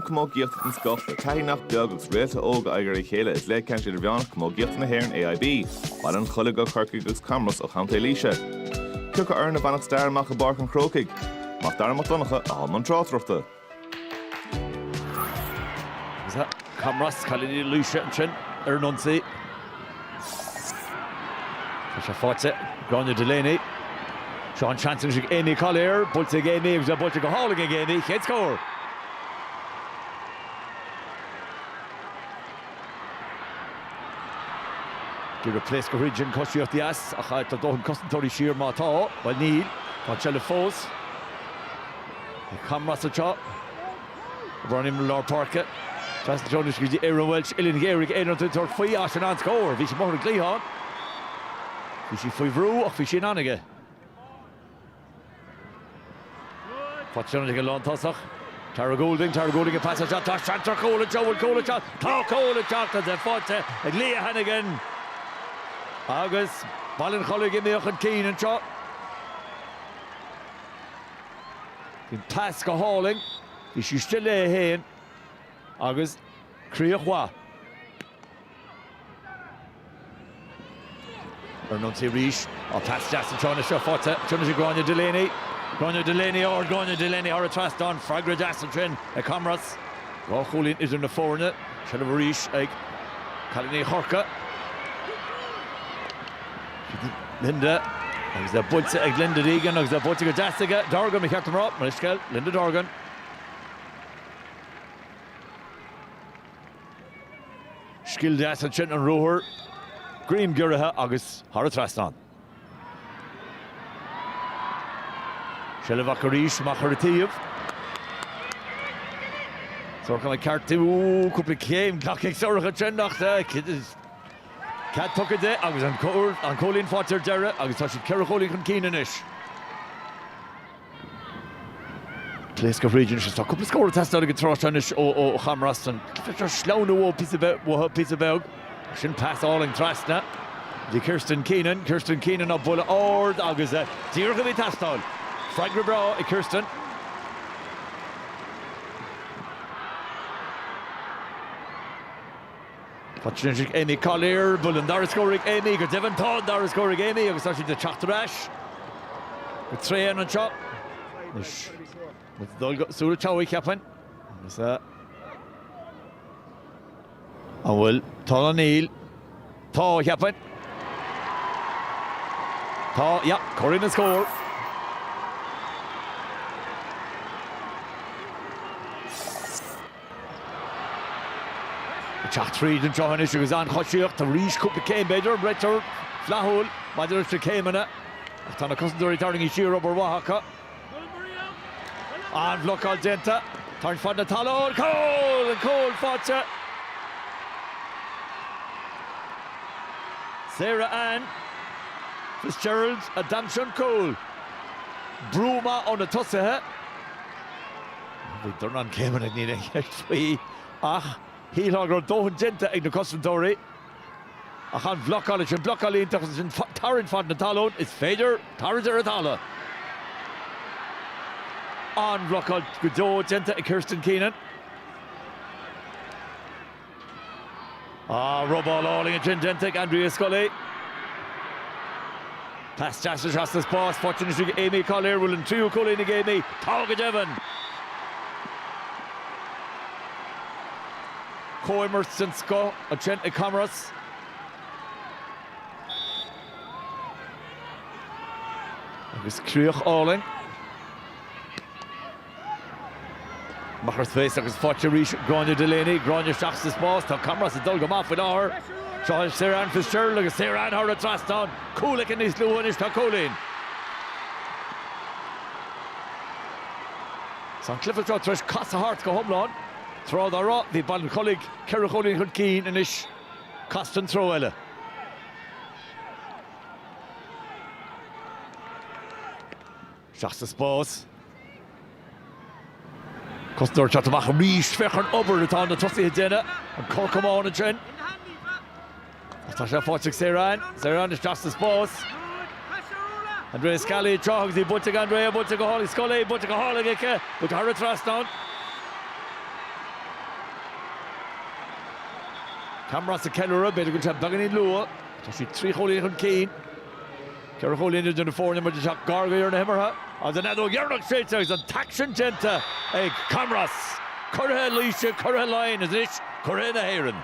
Camógaíochta den scoth, le taithí nach beag agus réaltaí óga in aghaidh a chéile i gcluiche ceannais Idirmheánach Camógaíochta na hÉireann, AIB, Baile an Chollaigh ó Chorcaigh agus Camros ó Chontae Laoise. Cé orthu a bhainfeadh stair amach i bPáirc an Chrócaigh. MacDara Mac Donncha a thug an tráchtaireachta. Camros, cailíní Laoise ansin ar an ionsaí. Tá sé faighte. Gráinne Delaney. Seo seans anois ag Amy Collier. Buailte ag Amy agus é buailte go hálainn ag Amy. Chéad scór! Cé ag pléascadh tríd an choisíocht dheas ach tá dóthain cosantóirí siar má tá. Bhuel níl. Tá an tseilbh fós ag Camros anseo. Brennan i lár páirce. Trasna tráthnóna go dtí Erin Walsh uillinn ghéar ag Erin tá ag tabhairt faoi ach sin an-scór. Bhí sí amuigh ar an gcliathán. Bhí sí faoi bhrú ach bhí sí in ann aige. Faighte ag an lántosaí. Tara Goulding, Tara Goulding an pas isteach. Tá seans ar chúl anseo. Bhfuil cúl ag teacht? Tá cúl ag teacht is é faighte ag Leah Hannigan. Agus Baile an Chollaigh imithe chun cinn anseo. Bhí an pas go hálainn, bhí sí istigh léi féin agus críoch mhaith. Ar an ionsaí arís, á pas deas an tráth seo faighte, anois ag Gráinne Delaney. Gráinne Delaney ard, Gráinne Delaney thar an trasnán, freagra deas ansin ag Camros. Dhá chúilín idir na foirne, seilbh arís ag cailíní Chorcaí. Linda, agus é buailte ag Linda Deegan agus é buailte go deas ag Dorgan, ba cheart dom a rá, mo leithscéal Linda Dorgan. Scil deas ansin an ruathar, greim giorraithe agus thar an trasnán. Seilbh amach arís, amach ar an taobh. Sorcha McCartan, ooh, cúpla céim glactha ag Sorcha ansin ach Cead tugtha di agus an cúilín faighte ar deireadh agus tá siad ceithre chúilín chun cinn anois. Pléascadh tríd anois agus tá cúpla scór ag teastáil ag an tráth seo anois ó Chamros. An bhféadfadh seo sleamhnú uathu píosa beag? Sin pas álainn trasna go Kirsten Keenan. Kirsten Keenan an buille ard agus díreach a bhí ag teastáil. Freagra breá ag Kirsten. Faighte anois ag Aimee Collier, bhfuil an dara scór ag Aimee, go deimhin tá an dara scór ag Aimee agus tá siad ag teacht ar ais go tréan anseo. Anois muid ag dul go Súil an tSeabhaic, cheapfainn, agus a. An bhfuil tá nó níl? Tá, cheapfainn. Tá, yeah, corraíonn an scór. Ag teacht tríd an tsruth anois agus an-choisíocht arís, cúpla céim b'fhéidir, an réiteoir flaithiúil maidir leis na céimeanna ach tá na cosantóirí tarraingthe siar, obair mhaith acu. An-bhlocáil déanta, tarraingt fad na talún, cúl! An cúl faighte! Sarah Ann Fitzgerald a d'aimsigh an cúl. Brú maith ó na tosaithe. Bhí dornán céimeanna, níl aon cheist faoi, ach shílfeá go raibh dóthain déanta ag na cosantóirí. Ach an bhlocáil, ansin blocáil iontach, ansin tarraingt fad na talún, is féidir tarraingt ar an talamh! An-bhlocáil go deo déanta ag Kirsten Keenan. Ah, robáil álainn ansin déanta ag Andrea Scully. Pas deas isteach sa spás, faighte anois ag Aimee Collier, bhfuil an tríú cúilín ag Aimee, tá go deimhin! Comhimirt den scoth ansin ag Camros. Agus críoch álainn. Amach ar space agus faighte arís Gráinne Delaney, Gráinne isteach sa spás, tá Camros ag dul go maith faoi láthair. Seo í Sarah Ann Fitzgerald agus Sarah Ann thar an trasnán, cúl aici níos luaithe anois, tá cúilín. Tá an cluiche seo tar éis casadh thart go hiomlán. Tráth dá raibh, bhí Baile an Chollaigh ceithre chúilín chun cinn, anois casta an treo eile. Isteach sa spás. Cosantóir ag teacht amach arís. Féach ar an obair atá na tosaithe ag déanamh. An cor camáin ansin. Agus tá sé faighte ag Sarah Ann. Sarah Ann isteach sa spás. Andrea Scully ag teacht agus í buailte ag Andrea, buailte go hálainn ag Scully, buailte go hálainn aici, buailte thar an trasnán. Camros ag ceiliúradh, b'fhéidir go bhfuil sé beagáinín luath. Tá siad trí chúilín chun cinn. Ceithre chúilín idir na foirne, muid ag teacht gar go deireadh na himeartha agus an fheadóg dheireanach séidte agus an t-aicsean déanta ag Camros. Curaithe Laoise, Curaithe Laighean is anois Curaithe na hÉireann.